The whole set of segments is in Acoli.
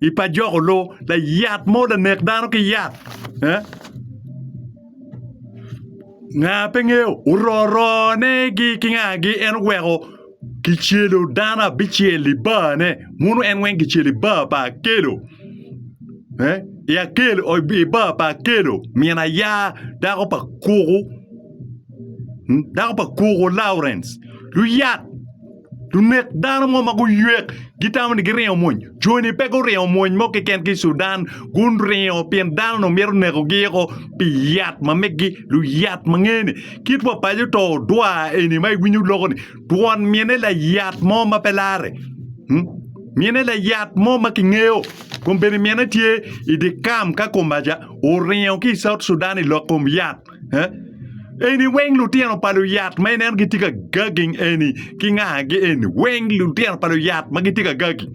i pa joko loo layat mo lanek dano ki yat eh nga pe ngeyo ororone gi ki nga gi en oweko kicelo dano abicel i bar ne mono en weng kicelo i bar pa akelo eh i akelo i bar pa akelo min aya dako pa kuku dako pa kuku Laurens luyat Lunek dano mo ma guyek gitamo ni giringo mwony. Joni pe guringo mwony mo keken ki i Sudan, guringo pien dano-nu mito nekogi eko pi yat ma meggi, luyat ma ngene. Kit wa paco to odwa eni ma iwinyo loko-ni, twon mine layat mo ma pe larre. Hmm? Mine layat mo ma kingeyo. Kombeddi mine tye i dye kam ka Komaja oringo ki i South Sudan i lok kom yat. Eni weng lutino pa luyat ma ineno gitye ka gagi eni ki ngagi eni weng lutino pa luyat ma gitye ka gagi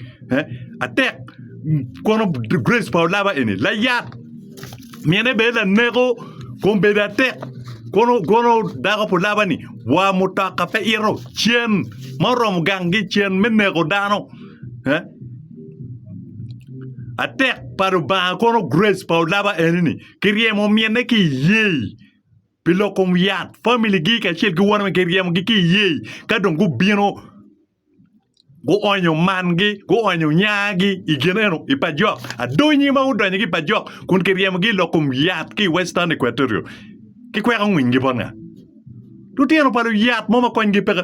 atek kono grace pa olaba eni layat mine bene laneko kun bedo atek kono dako pa olaba ni wa mutoka pe ito cen ma oromo gangi cen me neko dano atek pa lubanga kono grace pa olaba eni ni. Kiryemo omyenne ki iyee pi loko yat famili gi kacel ki wan kiryemo gi ki iyee ka dong gubino guonyo man gi guonyo nyaa gi i gin eno i pajok adonyi ma gudonyo gi pajok kun kiryemo gi loko yat ki western equatorio ki kweko ngwiny gi bot nga lutino pa luyat mo ma kony gi peke.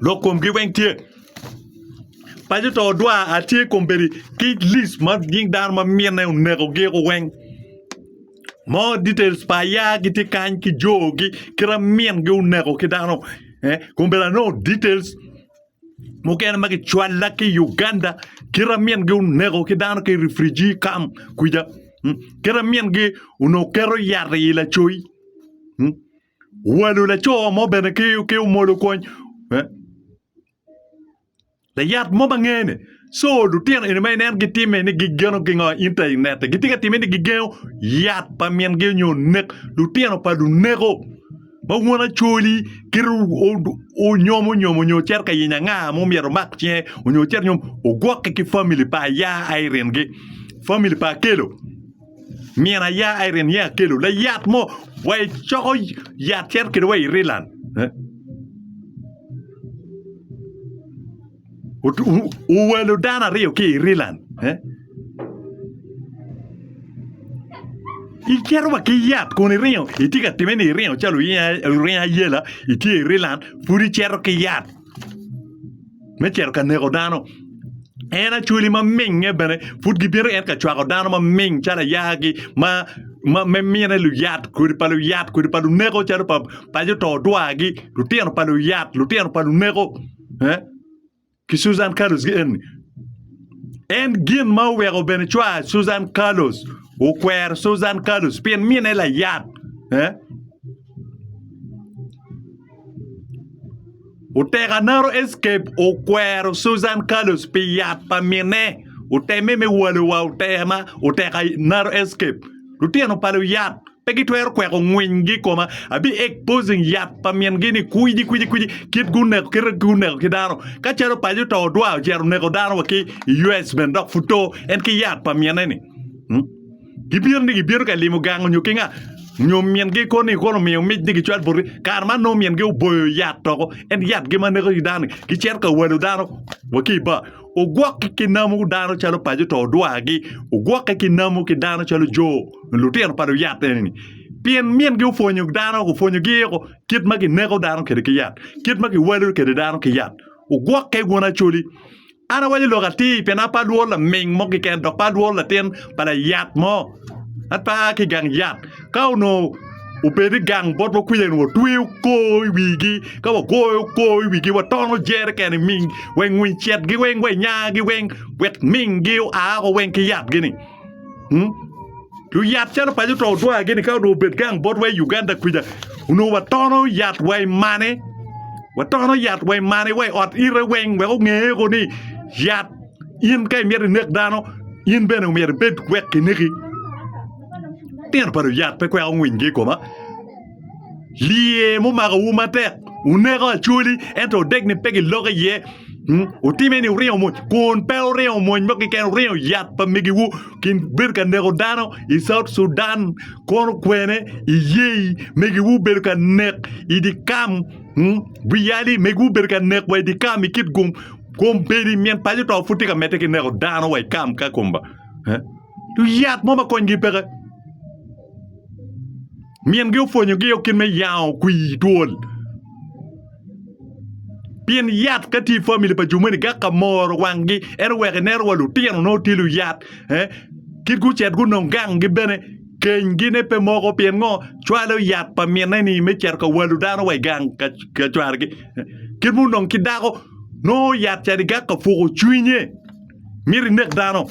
lok komgi weng tye paco to odwa atye kombeddi ki list ma nying dano ma mine oneko gi o weng more details pa aya gitye kany ki jogi kit amin gi oneko ki dano kombeddi anongo details mukene ma kicwalla ki i Uganda kit amin gi oneko ki dano ki i refugee camp kwica kit amin gi onongo keto yat i lacoc. Walu laco mo bene ki omolo kwony. Layat mo ma ngeye ni. So lutino eni ma inen gitime ni gigeno gingo inta i nette. Gitye ka time ni gigengo yat pa mingi onyo nek lutino pa luneko ma won acoli kit onyomo onyomo onyo cito ka yenyo anga mo myero omak cinge onyo cit nyom ogwokke ki family pa aya a iringi. Family pa akelo. Myero aya Irene niang akelo layat mo wa icoko yat cito kede wa Ireland. Owalo dano aryo ki Ireland. Icito wa ki yat kun iringo itye ka time ni iringo calo oringo ayela itye Ireland pud icito ki yat. me cito ka neko dano. En acwali ma mingnge bene pud gibino en ka cwako dano ma ming calo ayaki ma ma me mine luyat kodi pa luyat kodi pa luneko calo pa pa jo to odwagi lutino pa luyat lutino pa luneko eeh ki Susan Carlos gi eni. En gin ma oweko bene cwar Susan Carlos okwero Susan Carlos pien mine layat eeh Otekanaro Escape okwero Susan Carlos pi yat pa minne oteme me walo wa otekanaro Escape. Lutino pa luyat pe gitwero kweko ngwinygi i koma. Abi exposing yat pa mingi ni kwidi kwidi kwidi kit guneko kite guneko ki dano. Ka calo paco to odwa ocito oneko dano wa ki US bene dok pud to en ki yat pa minne ni. Gibino ni gibino ka limo gang onyo kinga, onyo min gi koni kono omiyo mic ni gicwal boti, kare man nongo min gi oboyo yat toko en yat gi ma neko dano ni gicito ka walo dano wa ki ibar ogwoki ki namu dano calo paco to odwa gi ogwoki ki namu ki dano calo jo lutino pa luyat eni ni pien min gi opwonyo dano opwonyo gi o kit ma kineko dano kwede ki yat kit ma kiwalo kwede dano ki yat ogwoke bwun Acholi An awaco lok atir pien an pe alwor laming mo keken dok pe alwor latin pa layat mo. An pe aa ki i gang yat. Ka onongo obedo ni gang botwa kwija onongo watweyo kor i wigi ka wagoyo kor i wigi watono jeriken i ming weng winy cet-gi weng wa i nya-gi weng wek ming-gi oa woko weng ki yatgi-ni. luyat calo paco to odwar gini ka onongo obed gang bot wa i Uganda kwica onongo wa tono yat wa i mane wa tono yat wa i mane wa i ot ite weng wek onge ko ni yat in ka imito inek dano in bene myero ibed wek kineki, litino pa luyat pe kweko winy gi i koma. Lye mumakowu matek, wuneko acoli, ento odek ni pe giloko iye. Hmm, Wutime ni wuringo mony, kun pe wuringo mony mo keken, wuringo yat pa migiwu, gin bedo ka neko dano i South Sudan, kono kwene iyei megiwu bedo ka nek i di kam, hmm, bwiyali megiwu bedo ka nek wa i di kam i kit gum, kombeddi myen paco to pud tye ka medde ki neko dano wa i kam ka komba. Eh? Yat mo ma konygi peke. Mingi opwonyo gi kit me yango kwi twol. Pien yat ka tye family pa jumeni gak ka moro wangi en oweko inero wa lutino no tye luyat eh kit gucet gunong gang gi bene keny gi ne pe moko pien ngo cwalo yat pa mine ni me cito ka walo dano wa igang ka cware gi kit mo nong ki dako nongo yat cadi gak ka puko cwinye miti nek dano.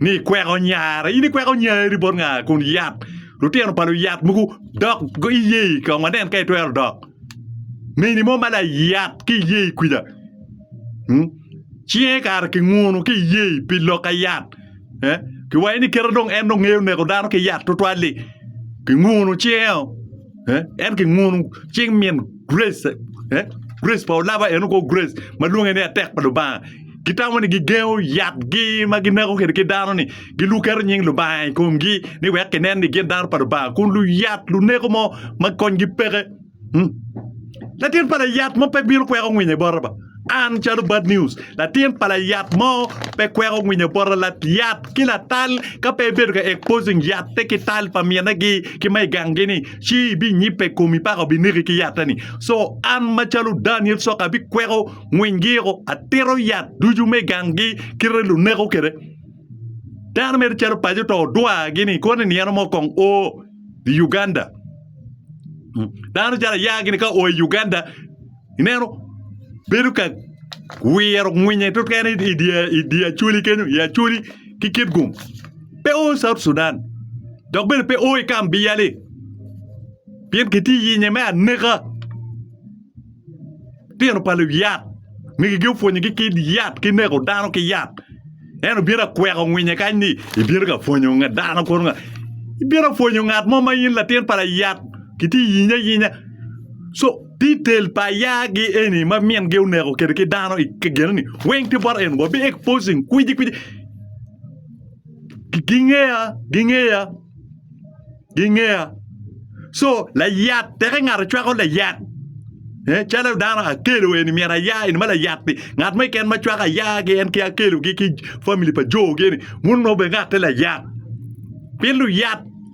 ni ikweko nyara in ikweko nyari bot nga kun yat lutino pa luyat mogo dok iye i kong wanen ka itwero dok mini mo ma layat ki iye i kwija hmm? cinge kara ki ngunu ki iye i pi lok ka yat eh? kiwaye ni kite dong en dong ngeyo neko dano ki yat tutwal-li ki ngunu cinge-o eh? en ki ngunu cing min grace eh? grace pa olaba en oko grace ma lwonge ni atek pa lubanga gitamo ni gigengo yatgi ma gineko kede ki dano ni giluketo nying lubanga i komgi ni wek kinen ni gin dano pa lubanga kun luyat luneko mo ma konygi peke hmm? latin pa layat mo pe bino kweko ngwinye bota ba An calo Bad News, latin pa layat mo pe kweko ngwinyo poto layat ki latal ka pe ibedo ka exposing yatte ki tal pa minegi ki ma igangi ni ci ibinyibbe komi paka obineki ki yatte ni. So an macalo Daniel Soka abikweko ngwinygi o atito yat ducu me gangi kite luneko kede. Dano mere calo paco to odwa gini koni ni eno mo kong o i Uganda. Dano calo aya gini ka o i Uganda Ineno? Bedo ka wiro ngwinye keken idi acholi kenyo, i acholi ki kit gum. Pe o i South Sudan, dok bene pe o i kamp Biyali. Pien kitye yinye me aneka. Tino pa luyat, migigi opwonyogi ki yat, ki neko dano ki yat. En obino akweko ngwinye kany ni ibino ka pwonyo dano kunu nga. Ibino pwonyo ngat mo ma in latin pa layat, kitye yinye ayinya. So. Detail pa yaa gi eni ma min gi oneko kede ki dano i geno ni weng tye bot en wa be exposing kwiji kwiji gingeya gingeya gingeya so layat teke ngato cwako layat eh calo dano akelo eni myero aya eni ma layat ni ngat mo keken ma cwako aya gi en ki akelo gi ki family pa jo gi eni wun nongo be ngatte layat pien luyat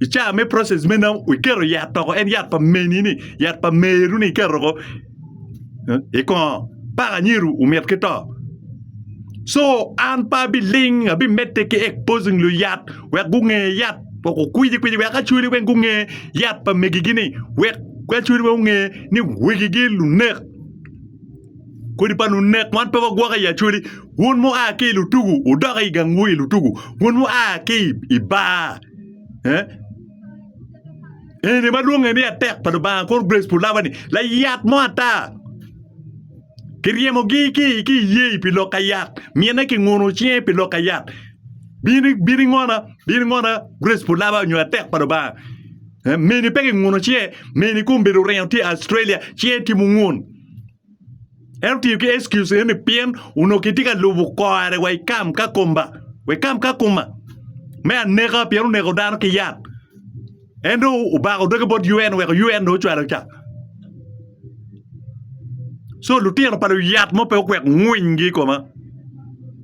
i caa me process me namo iketo yat toko en yat pa meni ni yat pa meru ni iketo ko i kongo paka nyiru omit ki to so an pa bi ling abi mette ki exposing lu yat wek gunge yat wek okwiji kwiji wek acholi weng gunge yat pa megi gi ni wek acholi weng gunge ni wegi gi lunek kodi pa lunek wan pe wagwoko i acholi wun mu a ki lutugu udok i gang wu i lutugu wun mu a ki i bar Eh? Eni madwonge ni atek pa Lubanga kor grace pu laba ni layat mo ata kiryemogi ki ki iyee pi lok ka yat mine kinguno cinge pi lok ka yat bini bini ngona bini ngona grace pu laba nyo atek pa Lubanga Eh, meni pe kinguno cinge meni kun bedo oringo tye Australia cinge tye mungun En otiyo ki excuse eno ni pien onongo kitye ka lubo kore wa ikam ka komba wa ikam ka kuma me aneka pien oneko dano ki yat en dong obako doge bot UN weko UN dong ocwalo ca so lutino pa luyat mo pe okwek ngwiny gi ikoma.